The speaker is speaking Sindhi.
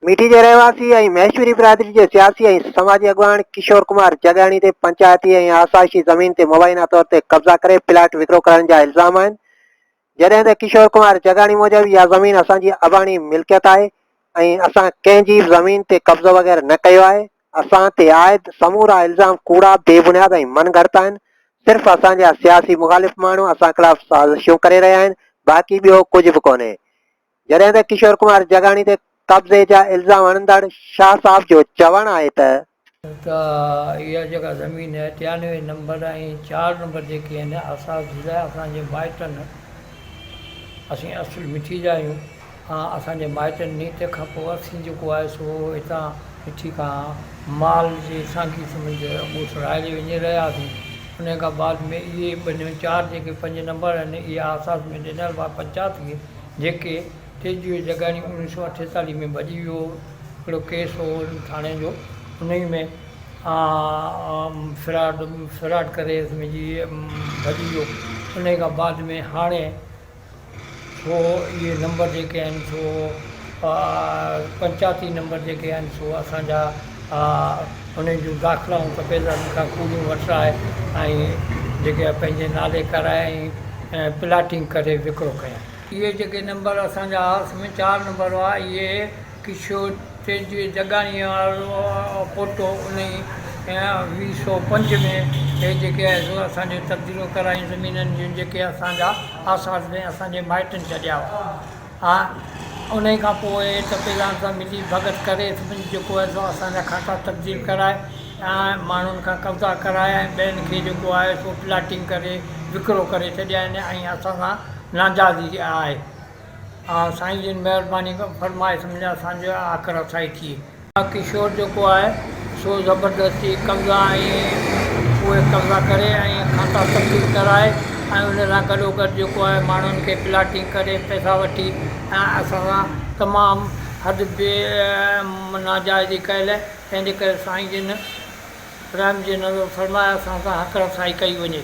ميٺي جي رهواسي ۽ مهيشوري برادري جي سياسي ۽ سماجي اڳواڻ ڪشور ڪمار جڳياڻي تي پنچائتي ۽ آسائشي زمين تي مبينا طور تي قبضا ڪري پلاٽ وڪرو ڪرڻ جا الزام آهن جڏهن ته ڪشور ڪمار جگاڻي موجب اها زمين اسان جي اباڻي ملڪيت آهي ۽ اسان ڪنهن جي به زمين تي قبضو وغيره نه ڪيو آهي، اسان تي عائد سمورا الزام ڪوڙا، بي بنياد ۽ من گهڙت آهن، صرف اسان جا سياسي مخالف ماڻهو اسان خلاف سازشون ڪري رهيا آهن، باقي ٻيو ڪجهه به ڪونهي. جڏهن ته ڪشور ڪمار جگاڻي تي قبضي جا الزام هڻندڙ شاهه صاحب جو چوڻ آهي ته. ته اها جيڪا زمين ٽيانوي نمبر ۽ چار نمبر جيڪي آهن اساس جي لاء اسان جي مائٽن اسين اصل مٺي جا آهيون ۽ اسان جي مائٽن ني تنهن کان پوء اسين جيڪو آهي سو هتان مٺي کان مال جي سانگي سمجهه اڳو سرهائجي وڃي رهياسين انهي کان بعد ۾ اهي ٻنهي چار جيڪي پنج نمبر آهن اهي اساس ۾ ڏنل هئا پنچات کي جيڪي تيجوء جگاڻي اڻ ويهه سؤ اٺيتاليهه ۾ ڀڄي ويو هو هڪڙو ڪيس هو ان ٿاڻي جو انهي ۾ فراڊ فراڊ ڪري سمجهي ڀڄي ويو انهي کان بعد ۾ هاڻي سو اهي نمبر جيڪي آهن سو پنچاتي نمبر جيڪي آهن سو اسانجا انهن جون داخلائون ته بيلرن کان پوريون وٺرائي ۽ جيڪي آهي پنهنجي نالي ڪرائي ۽ پلاٽنگ ڪري وڪرو ڪيائين اهي جيڪي نمبر اسانجا آس ۾ چار نمبر هئا اهي ڪشور تيجوي جڳاڻيء وارو پوٽو انهي ويهه سو پنج ۾ هي جيڪي آهي سو اسانجو تبديلو ڪرايائين زمينن جون جيڪي اسانجا آس پاس ۾ اسانجي مائٽن ڇڏيا هئا ها انهي کان پوء ٽپيلان سان ملي ڀڳت ڪري سڀني جيڪو آهي سو اسان جا کاتا تبديل ڪرائي ۽ ماڻهن کان قبضا ڪرائي ۽ ٻين کي جيڪو آهي سو پلاٽنگ ڪري وڪرو ڪري ڇڏيائين ۽ اسان سان ناجائز ئي آهي ها سائين جن مهرباني فرمائي سمجهه اسان جي آکر رسائي ٿئي ها ڪشور جيڪو آهي سو زبردستي قبضا ۽ اهي قبضا ڪري ۽ کاتا تبديل ڪرائي ۽ ان سان گڏو گڏ جيڪو آهي ماڻهن کي پلاٽنگ ڪري پئسا وٺي ۽ اسان سان تمام حد بي ناجائزي ڪيل تنهنجي ڪري سائين جن رحم جي نظر فرمائي اسان سان حق رسائي ڪئي وڃي